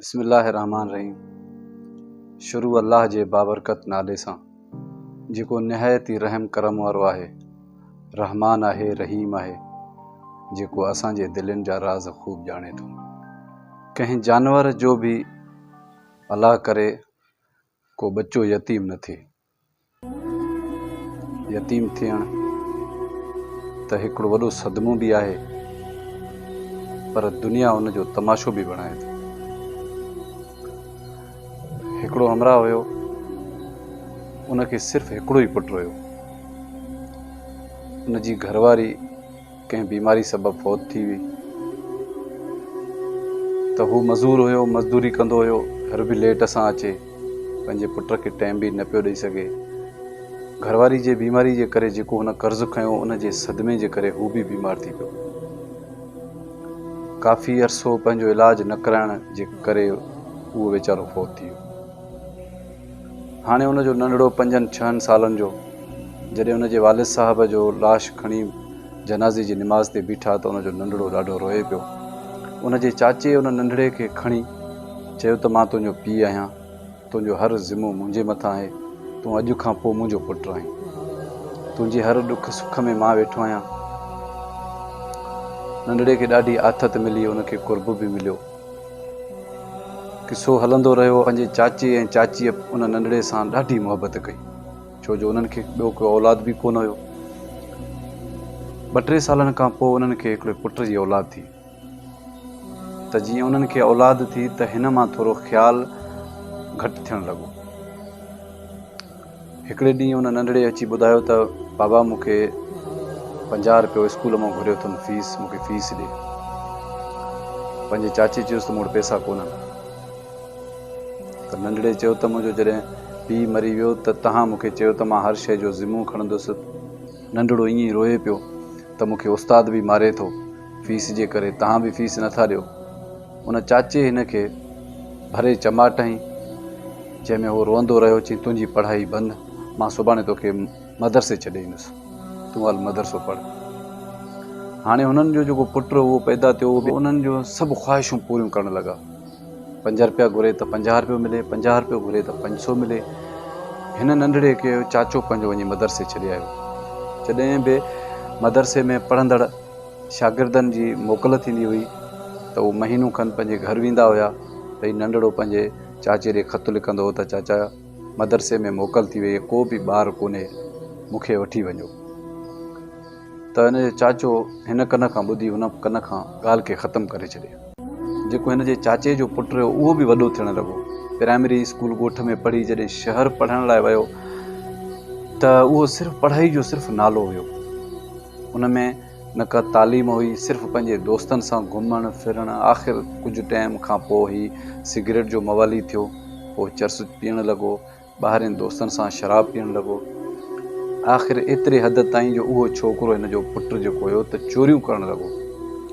بسم الله الرحمٰن الرحيم شروع الله جي بابرڪت نالي سان جيڪو نهايت ئي رحم ڪرم وارو آهي رحمان آهي رحيم آهي جيڪو اسان جي دلين جا راز خوب ڄاڻي ٿو ڪنهن جانور جو به الله ڪري ڪو ٻچو يتيم نه ٿئي يتيم ٿيڻ ته هڪڙو وڏو صدمو به آهي پر دنيا ان جو تماشو به بڻائي ٿي. هڪڙو همراهه هيو ان کي صرف هڪڙو ئي پٽ هيو ان جي گهرواري ڪنهن بيماري سبب فوت ٿي وئي ته هو مزور هيو مزدوري ڪندو هيو گهر به ليٽ سان اچي پنهنجي پٽ کي ٽائيم به نه پيو ڏئي سگهي گهرواري جي بيماري جي ڪري جيڪو هن قرض کنيو ان جي صدمي جي ڪري هو به بيمار ٿي پيو ڪافي عرصو پنهنجو علاج نه ڪرائڻ جي ڪري اهو ويچارو فوت ٿي ويو هاڻي ان جو ننڍڙو پنجن ڇهن سالن جو جڏهن ان جي والد صاحب جو لاش کڻي جنازي جي نماز تي بيٺا ته ان جو ننڍڙو ڏاڍو روئي پيو. ان جي چاچي ان ننڍڙي کي کڻي چيو ته مان تنهنجو پيء آهيان، تنهنجو هر ذمو منهنجي مٿان آهي، تون اڄ کان پوء منهنجو پٽ آهين. تنهنجي هر ڏک سک ۾ مان ويٺو آهيان. ننڍڙي کي ڏاڍي آٿت ملي، ان کي قرب به مليو. قصو هلندو رهيو. پنهنجي چاچي ۽ چاچيء ان ننڍڙي سان ڏاڍي محبت ڪئي، ڇو جو انهن کي ٻيو ڪو اولاد به ڪونه هيو. ٻه ٽي سالن کان پوء انهن کي هڪڙي پٽ جي اولاد ٿي، ته جيئن انهن کي اولاد ٿي ته هن مان ٿورو خيال گهٽ ٿيڻ لڳو. هڪڙي ڏينهن ان ننڍڙي اچي ٻڌايو ته بابا مون کي پنجاهه روپيو اسڪول مان گهريو اٿم فيس مون کي فيس ڏي. پنهنجي چاچي چيس ته مون وٽ پئسا ڪونهن ته ننڍڙي چيو ته منهنجو جڏهن پيء مري ويو ته تنهان مون کي چيو ته مان هر شيء جو ذمو کڻندس. ننڍڙو ائين ئي روئي پيو ته مون کي استاد به ماري ٿو. فيس جي ڪري توهان به فيس نه ٿا ڏيو. ان چاچي هن کي ڀري چماٽ هنئي، جنهن ۾ هو روئندو رهيو. چيائين، تنهنجي پڙهائي بند، مان سڀاڻي توکي مدرسي ڇڏي ايندس، تون هل مدرسو پڙهه. هاڻي هنن جو جيڪو پٽ هو پيدا ٿيو، اهو به انهن جون سڀ خواهشون پوريون ڪرڻ لڳا. پنج رپيا گهري ته پنجاهه رپيو ملي، پنجاهه رپيو گهري ته پنج سو ملي. هن ننڍڙي کي چاچو پنهنجو وڃي مدرسي ڇڏي آيو. جڏهن به مدرسي ۾ پڙهندڙ. شاگردن جي موڪل ٿيندي هئي ته هو مهينو کن پنهنجي گهر ويندا هيا ته هي ننڍڙو پنهنجي چاچي ڏي خط لکندو هو ته چاچا مدرسي ۾ موڪل ٿي وئي ڪو به ٻار ڪونهي مون کي وٺي وڃو ته هن جو چاچو هن ڪن کان ٻڌي هن ڪن کان ڳالهه کي ختم ڪري ڇڏي جيڪو هن جي چاچي جو پٽ رهيو اهو به وڏو ٿيڻ لڳو پرائمري اسڪول ڳوٺ ۾ پڙهي جڏهن شهر پڙهڻ لاء ويو ته اهو صرف پڙهائي جو صرف نالو هيو ان ۾ نه ڪا تعليم هئي، صرف پنهنجي دوستن سان گهمڻ ڦرڻ، آخر ڪجهه ٽيم کان پوء هي سگريٽ جو موالي ٿيو، پوء چرس پيئڻ لڳو، ٻاهرين دوستن سان شراب پيئڻ لڳو، آخر ايتري حد تائين جو اهو ڇوڪرو هن جو پٽ جيڪو هيو ته چوريون ڪرڻ لڳو،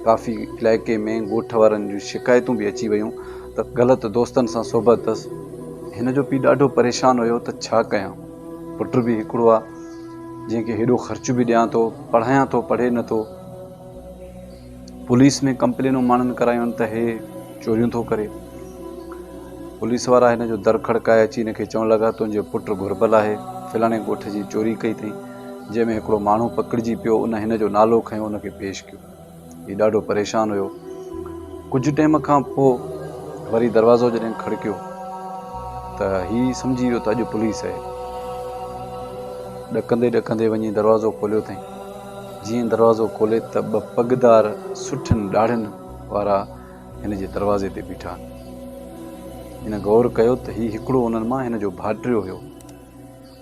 ڪافي علائقي ۾ ڳوٺ وارن جون شڪايتون به اچي ويون ته غلط دوستن سان صحبت اٿس، هن جو پي ڏاڍو پريشان هيو ته ڇا ڪيان؟ پٽ به هڪڙو آ جنهن کي هيڏو خرچ به ڏيان ٿو پڙهايان ٿو پڙهي نه ٿو پوليس ۾ ڪمپلينون ماڻهن ڪرايون ته هي چوريون ٿو ڪري پوليس وارا هن جو در کڙڪائي اچي هن کي چوڻ لڳا تنهنجو پٽ گهربل آهي فلاڻي ڳوٺ جي چوري ڪئي اٿئي جنهن ۾ هڪڙو ماڻهو پڪڙجي پيو ان هن جو نالو کنيو ان کي پيش ڪيو هي ڏاڍو پريشان هيو. ڪجهه ٽيم کان پوء وري دروازو جڏهن کڙڪيو ته هي سمجهي ويو ته اڄ پوليس آهي. ڏڪندي ڏڪندي وڃي دروازو کوليو اٿئين. جيئن دروازو کولي ته ٻه پڳدار سٺين ڏاڙهين وارا هن جي دروازي تي بيٺا هن غور ڪيو ته هي هڪڙو انهن مان هن جو ڀائٽيو هيو.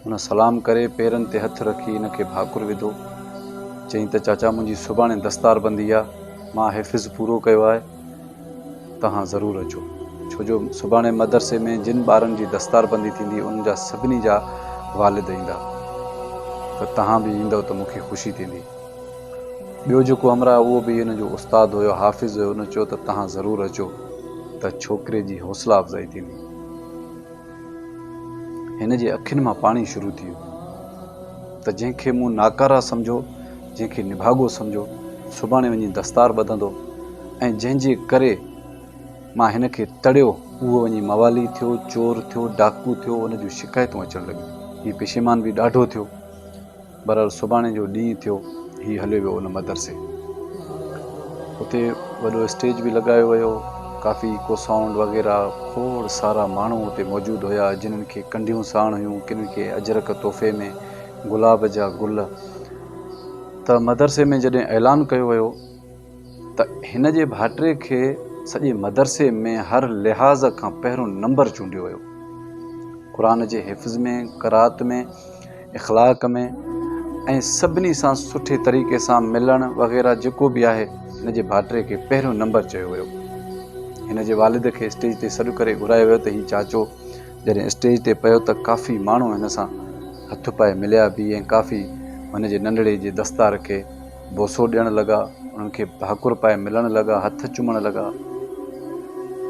هن سلام ڪري پيرن تي هٿ رکي هن کي ڀاڪر وڌو. چيائين ته چاچا منهنجي سڀاڻي دستار بندي آ، مان حفظ پورو ڪيو آهي، توهان ضرور اچو. ڇو جو سڀاڻي مدرسي ۾ جن ٻارن جي دستار بندي ٿيندي انهن جا سڀني جا والد ايندا ته توهان به ايندؤ ته مون کي خوشي ٿيندي. ٻيو جيڪو همراهه اهو به هن جو استاد هيو، حافظ هيو، ان چيو ته توهان ضرور اچو ته ڇوڪري جي حوصلا افزائي ٿيندي. هن جي اکين مان پاڻي شروع ٿي ويو ته جنهن کي مون ناڪاره سمجهيو، جنهن کي نڀاڳو سمجهيو، سڀاڻي وڃي دستار ٻڌندو ۽ جنهن جي ڪري مان هن کي تڙيو، اهو وڃي موالي ٿيو، چور ٿيو، ڊاڪو ٿيو، ان جون شڪايتون اچڻ لڳيون. هي پشيمان به ڏاڍو ٿيو. بھرحال سڀاڻي جو ڏينھن ٿيو ھي ھليو ويو ان مدرسي اتي وڏو اسٽيج به لڳايو ويو ڪافي ڪو سائونڊ وغيره کوڙ سارا ماڻھو اتي موجود ھيا جنھن کي ڪنڍيون ساڻ ھيون ڪن کي اجرڪ تحفي ۾ گلاب جا گل ته مدرسي ۾ جڏھن اعلان ڪيو ويو ته هن جي ڀائٽي کي سڄي مدرسي ۾ هر لحاظ کان پهريون نمبر چونڊيو ويو. قرآن جي حفظ ۾، قرائت ۾، اخلاق ۾۽ سڀني سان سٺي طريقي سان ملڻ وغيره جيڪو به آهي هن جي ڀائٽي کي پهريون نمبر چيو ويو. هن جي والد کي اسٽيج تي سڏ ڪري گهرايو ويو ته هي چاچو جڏهن اسٽيج تي پيو ته ڪافي ماڻهو هن سان هٿ پائي مليا به ۽ ڪافي هن جي ننڍڙي جي دستار کي بوسو ڏيڻ لڳا، انهن کي ڀاڪر پائي ملڻ لڳا، هٿ چمڻ لڳا.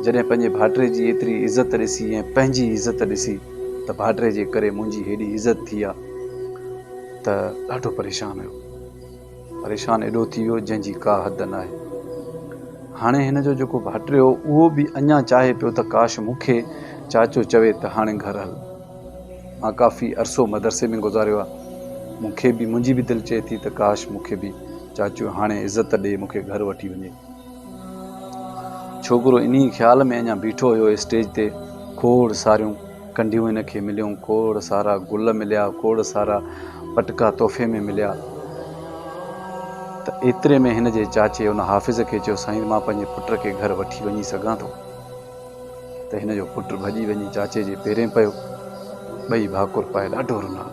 جڏهن پنهنجي ڀائٽي جي ايتري عزت ڏسي ۽ پنهنجي عزت ڏسي ته ڀائٽي جي ڪري منهنجي هيڏي عزت ٿي آ ته ڏاڍو پريشان هيو. پريشان ايڏو ٿي ويو جنهن جي ڪا حد ناهي. هاڻي هن جو جيڪو ڀائٽي هو اهو به اڃا چاهي پيو ته ڪاش مون کي چاچو چوي ته هاڻي گهر هل. مان ڪافي عرصو مدرسي ۾ گذاريو آ مون کي به منهنجي به دل چئي ٿي ته ڪاش مون کي به چاچو هاڻي عزت ڏئي مون کي گهر وٺي وڃي. ڇوڪرو انهي خيال ۾ اڃا بيٺو هيو اسٽيج تي کوڙ ساريون ڪنڍيون هن کي مليون کوڙ سارا گل مليا کوڙ سارا پٽڪا تحفي ۾ مليا ته ايتري ۾ هن جي چاچي ان حافظ کي چيو سائين مان پنهنجي پٽ کي گهر وٺي وڃي سگهان ٿو. ته هن جو پٽ ڀڄي وڃي چاچي جي پيرين پيو. ٻئي ڀاڪر پائي ڏاڍو رنا.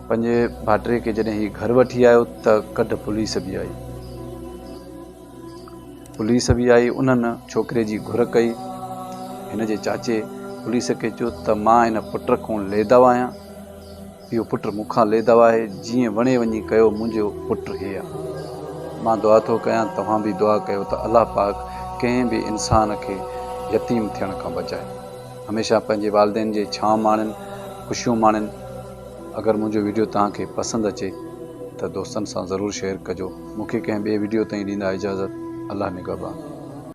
پنهنجي ڀائٽي کي جڏهن هي گهر وٺي آيو ته ڪڍ پوليس به آئي. پوليس به آئي انهن ڇوڪري جي گهر ڪئي. هن جي چاچي پوليس کي چيو ته مان هن پٽ کون ليداو آهيان. اهو پٽ مون کان ليڌو آهي، جيئن وڻي وڃي ڪيو منهنجو پٽ هي آ. مان دعا ٿو ڪيان توهان به دعا ڪيو ته الله پاڪ ڪنهن به انسان کي يتيم ٿيڻ کان بچائي. هميشه پنهنجي والدين جي ڇانء ماڻين، خوشيون ماڻين. اگر منهنجو ويڊيو توهان کي پسند اچي ته دوستن سان ضرور شيئر ڪجو. مون کي ڪنهن ٻئي ويڊيو تائين ڏيندا اجازت. الله نگهبان.